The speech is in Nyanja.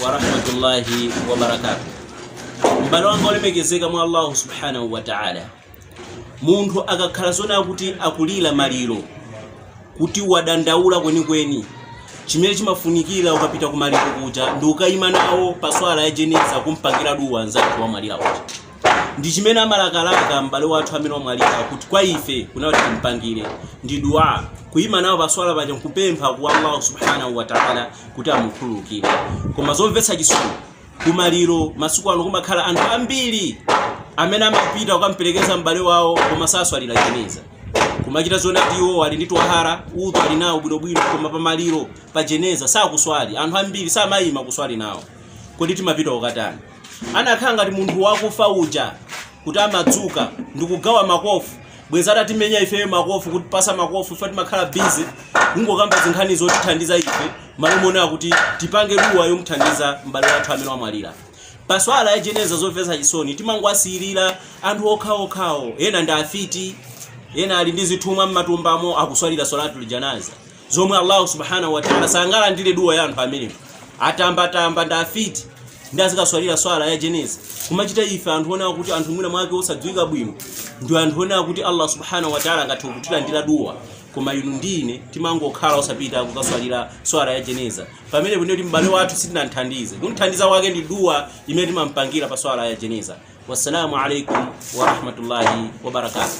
wa rahmatullahi wa barakatuh m'bale wanga olemekezeka mwa allahu subhanahu wa ta'ala munthu akakhala zoona kuti akulira maliro kuti wadandaula kwenikweni chimene chimafunikira ukapita ku maliro kuja ndi ukayima nawo pa swala ya jeneza kumpangira duwa nzake wamwalira uja ndi chimene amalakalaka m'bale wathu amene wamwalira kuti kwa ife kuno timpangire ndi dua kuyima nawo paswala paja nkupempha kwa allahu subhanahu wa taala kuti amukhululukire koma zomvetsa chisoni kumaliro masiku ano kumakhala anthu ambiri amene amapita kukamperekeza m'bale wawo koma saswalira jeneza kumachita zona kuti iwo ali ndi twahara udhu ali nawo bwinobwino koma pamaliro pa jeneza sakuswali anthu ambiri samayima kuswali nawo kodi timapita ukatani anakhala ngati munthu wakufa uja kuti amadzuka ndikugawa makofu bwezi atatimenya ifeyo makofu kutipasa makofu ife timakhala bizi kungokamba zinkhani zotithandiza ife m'malo moona kuti tipange duwa yomuthandiza m'bale wathu amene wamwalira pa swala ya jeneza zomvetsa chisoni timangowasiyirira anthu okhaokhawo ena ndi afiti ena ali ndi zithumwa m'matumbamo akuswalira swalatul janaza zomwe Allah subhanahu wa ta'ala sangalandire duwa ya anthu amenewo atambatamba ndi afiti ndi azikaswalira swala ya jeneza kumachita ife anthu oona kuti anthu mwina mwake osadziwika bwino ndi anthu oona kuti allah subhanahu wataala angathe kutilandira duwa koma inu ndi ine timangokhala osapita kukaswalira swala ya jeneza pamenepo m'bale wathu sitinamthandize kumthandiza kwake ndi duwa imene timampangira pa swala ya jeneza wassalamu alaikum warahmatullahi wabarakatuh